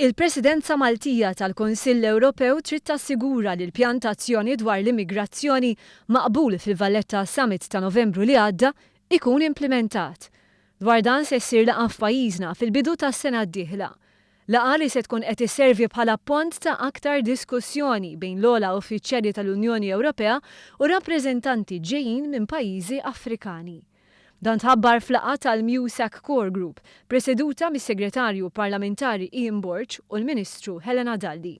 Il-Presidenza Maltija tal-Kunsill Ewropew trid tassigura li l-Pjan ta' Azzjoni dwar l-Immigrazzjoni maqbul fil-Valletta Summit ta' Novembru li għadda jkun implimentat. Dwar dan se ssir laqgħa f'pajjiżna fil-bidu tas-sena d-dieħla. Laqgħa li se tkun qed isservi bħala pont ta' aktar diskussjoni bejn l-ogħla uffiċjali tal-Unjoni Ewropea u rappreżentanti ġejjin minn pajjiżi Afrikani. Dan tħabbar f'laqgħa tal-MUSAC Core Group, preseduta mis-Segretarju Parlamentari Ian Borg u l-Ministru Helena Dalli.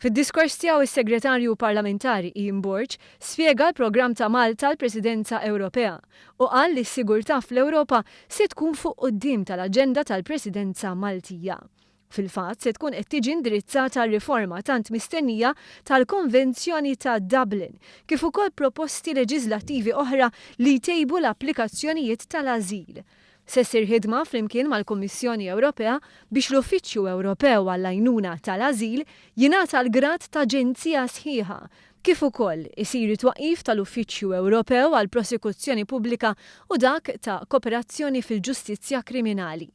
Fid-diskors tiegħu s-Segretarju Parlamentari Ian Borg spjega l-programm ta' Malta l-Presidenza Ewropea u qal li s-sigurtà fl-Ewropa se tkun fuq quddiem tal-aġenda tal-Presidenza Maltija. Fil-fatt, se tkun qed tiġi indirizzata r-riforma tant mistennija tal-Konvenzjoni ta' Dublin, kif ukoll proposti leġiżlattivi oħra li jtejbu l-applikazzjonijiet tal-ażil. Se ssir ħidma flimkien mal-Kummissjoni Ewropea biex l-Uffiċċju Ewropew għall-Għajnuna tal-Ażil jingħata l-grad ta' aġenzija sħiħa, kif ukoll isir it-twaqqif tal-Uffiċċju Ewropew għall-Prosekuzzjoni Pubblika u dak ta' Kooperazzjoni fil-Ġustizzja Kriminali.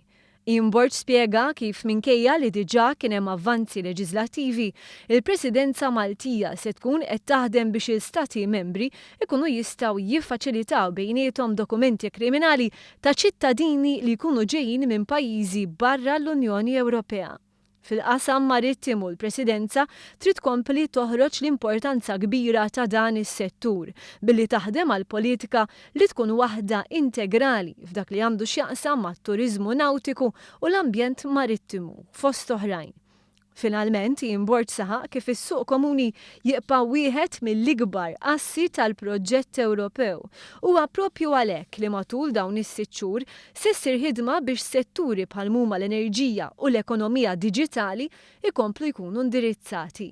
Ian Borg spjega kif minkejja li diġà kien hemm avvanzi leġiżlattivi, il-Presidenza Maltija se tkun qed taħdem biex il-Stati Membri jkunu jistgħu jiffaċilitaw bejniethom dokumenti kriminali ta' ċittadini li jkunu ġejjin minn pajjiżi barra l-Unjoni Ewropea. Fil-qasam marittimu l-Presidenza trid tkompli toħroġ l-importanza kbira ta' dan is-settur billi taħdem għal politika li tkun waħda integrali f'dak li għandu x'jaqsam mat-turiżmu nawtiku u l-ambjent marittimu, fost oħrajn. Finalment, Ian Borg saħaq kif is-Suq Komuni jibqa' wieħed mill-ikbar assi tal-proġett Ewropew. Huwa proprju għalhekk li matul dawn is-sitt xhur Se ssir ħidma biex setturi bħal mhuma l-enerġija u l-ekonomija diġitali jkomplu jkunu indirizzati.